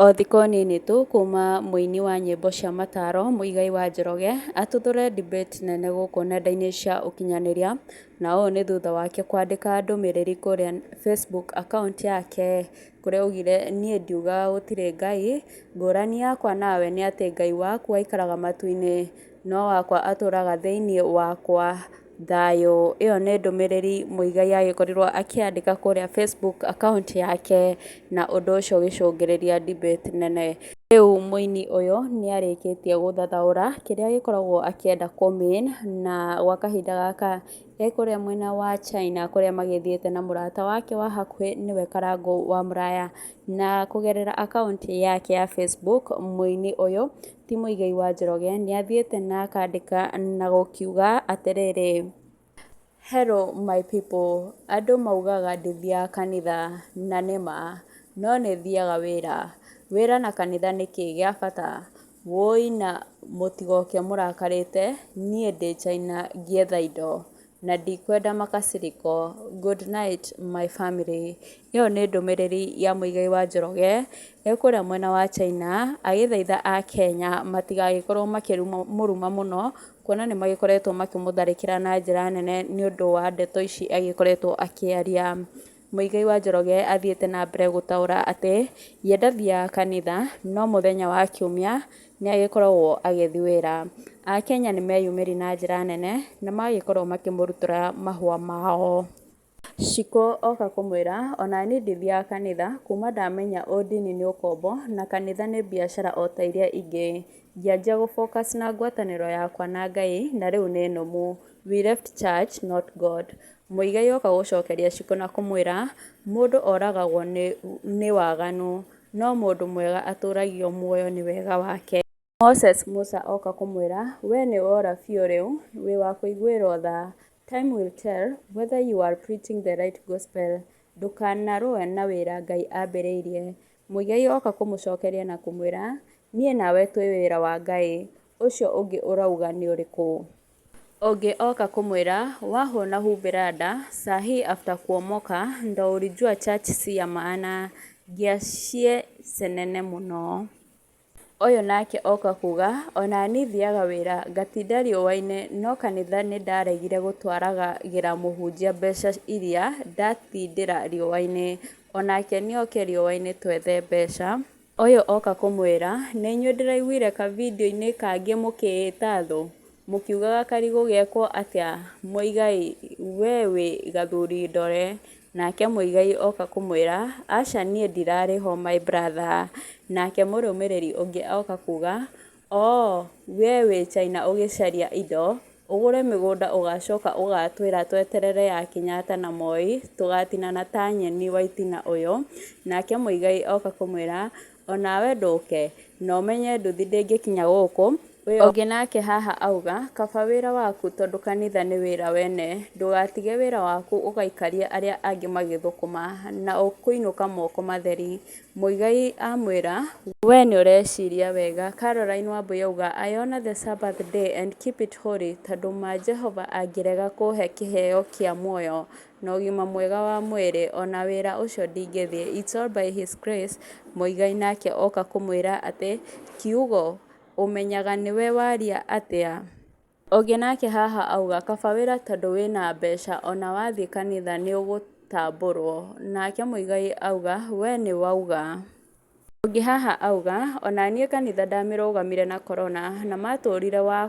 O thikũ nini tu kuma mũini wa nyĩmbo cia mataro Muigai wa Njoroge atuthũre debate nene gũkũ nenda-inĩ cia ũkinyanĩria na ũũ nĩ thutha wake kwandĩka ndũmĩrĩri kũrĩa Facebook account yake kũrĩa augire niĩ ndiugaga gũtirĩ Ngai ngũrani yakwa nawe nĩ atĩ Ngai waku aikaraga matu-inĩ no wakwa atũraga thĩinĩ wakwa. Thayũ, ĩyo nĩ ndũmĩrĩri mũigai agĩkorirwo akĩandĩka kũrĩa Facebook account yake, na ũndũ ũcio ũgĩcũngĩrĩria debate nene. Rĩu mũini ũyũ nĩ arĩkĩtie gũthathaũra kĩrĩa agĩkoragwo akĩenda kũ mean na gwa kahinda gaka e kũrĩa mwena wa China kũrĩa magĩthiĩte na mũrata wake wa hakuhĩ nĩwe Karangũ wa Mũraya. Na kũgerera akaunti yake ya Facebook, mũini ũyũ ti Mũigai wa Njoroge nĩ athiĩte na akandĩka na gũkiuga atĩrĩrĩ, Hello my people, andũ maugaga ndithiaga kanitha na nĩ ma, no nĩ thiaga wĩra. Wĩra na kanitha nĩ kĩĩ gĩa bata? Wũi na mũtigoke mũrakarĩte, niĩ ndĩ China ngĩetha indo. na ndikwenda makasiriko, good night my family. Ĩyo nĩ ndũmĩrĩri ya mũigai wa Njoroge e kũrĩa mwena wa China agĩthaitha Akenya matigagĩkorwo makĩmũruma mũno, kuona nĩ magĩkoretwo makĩmũtharĩkĩra na njĩra nene nĩ ũndũ wa ndeto ici agĩkoretwo akĩaria. Muigai wa Njoroge athiĩte na mbere gũtaũra atĩ ye ndathiaga kanitha no mũthenya wa kiumia nĩ agĩkoragwo agĩthiĩ wĩra. Akenya nĩ meyumĩririe na njĩra nene na magagĩkorwo makĩmũrutũra mahũa mao. Cikũ oka kũmwĩra onaniĩ ndithiaga kanitha kuma ndamenya ũndini nĩ ũkombo na kanitha nĩ biacara ota iria ingĩ. Ngĩanjia gũ focus na ngwatanĩro yakwa na Ngai na rĩu nĩ nũmu. We left church not God. Muigai oka gũcokeria Shiko na kũmwĩra, Mũndũ oragagwo nĩ waganu, no mũndũ mwega atũũragio muoyo nĩ wega wake. Moses, Musa oka kũmwĩra, Wee nĩ wora biũ rĩu, wĩ wa kũiguĩrũo tha. Time will tell whether you are preaching the right gospel. Ndũkanarũe na wĩra Ngai ambĩrĩirie. Muigai oka kũmũcokeria na kũmwĩra, Niĩ nawe twĩ wĩra wa Ngai. Ũcio ũngĩ ũrauga nĩ ũrĩkũ? Ũngĩ oka kũmwĩra, Wahwo na humbĩra nda, saa hii after kuomoka, ndo ulijua church si ya maana, ngia cie cenene mũno. Ũyũ nake oka kuga, ona niĩ thiaga wĩra ngatinda riũa-inĩ no kanitha nĩ ndaregire gũtwaragĩra mũhunjia mbeca iria ndatindĩra riũa-inĩ, onake nĩ oke riũa-inĩ twethe mbeca. Ũyũ oka kũmwĩra, Nĩ inyuĩ ndĩraiguire ka video inĩ kangĩ mũkĩĩta thũ, mũkiugaga karigũ gekwo atĩa, Muigai we wĩ gathuri ndore, nake Muigai oka kũmwĩra, Aca niĩ ndirarĩ ho my brother, nake mũrũmĩrĩri ũngĩ oka kuga, Oo we wĩ China ũgĩcaria indo, ũgũre mĩgũnda ũgacoka ũgatwĩra tweterere ya Kenyatta na Moi tũgatinana ta nyeni waitina ũyũ, nake Muigai oka kũmwĩra onawe ndũke na ũmenye nduthi ndĩngĩkinya gũkũ wĩ oke nake haha auga kaba wĩra waku tondũ kanitha nĩ wĩra wene ndũgatige wĩra waku ũgaikarie arĩa angĩ magĩthũkũma na ũkũinũka moko matheri Muigai amwĩra, Wee nĩ ũreciria wega. Caroline Wambui auga, I honor the Sabbath day and keep it holy tondũ ma Jehova angĩrega kũhe kĩheo kĩa muoyo na ũgima mwega wa mwĩrĩ, o na wĩra ũcio ndingĩthiĩ. It's all by his grace. Muigai nake oka kũmwĩra atĩ, Kiugo, ũmenyaga nĩwe waria atĩa? Ũngĩ nake haha auga kaba wĩra tondũ wĩna mbeca ona wathiĩ kanitha nĩũgũtambũrwo. Nake Muigai auga we nĩwauga. Ũngĩ haha auga onaniĩ kanitha ndamĩrũgamire na korona na matũrire wa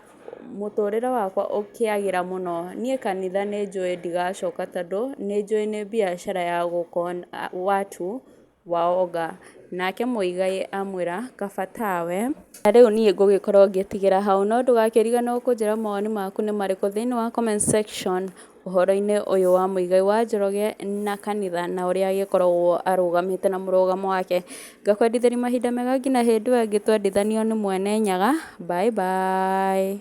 mũtũrĩre wakwa ũkĩagĩra mũno. Niĩ kanitha nĩnjũĩ ndigacoka tondũ nĩnjũĩ nĩ mbiacara ya gũkona watu. Waonga. Nake mũigai amwĩra, kaba tawe. Na rĩu niĩ ngũgĩkorwo ngĩtigĩra hau, no ndũgakĩriganĩrwo kũnjĩra mawoni maku nĩ marĩkũ thĩinĩ wa comment section ũhoro-inĩ ũyũ wa mũigai wa Njoroge na kanitha na ũrĩa agĩkoragwo arũgamĩte na mũrũgamo wake. Ngakwendithĩria mahinda mega nginya hĩndĩ ĩyo ĩngĩ twendithanio nĩ Mwene Nyaga. Bye bye.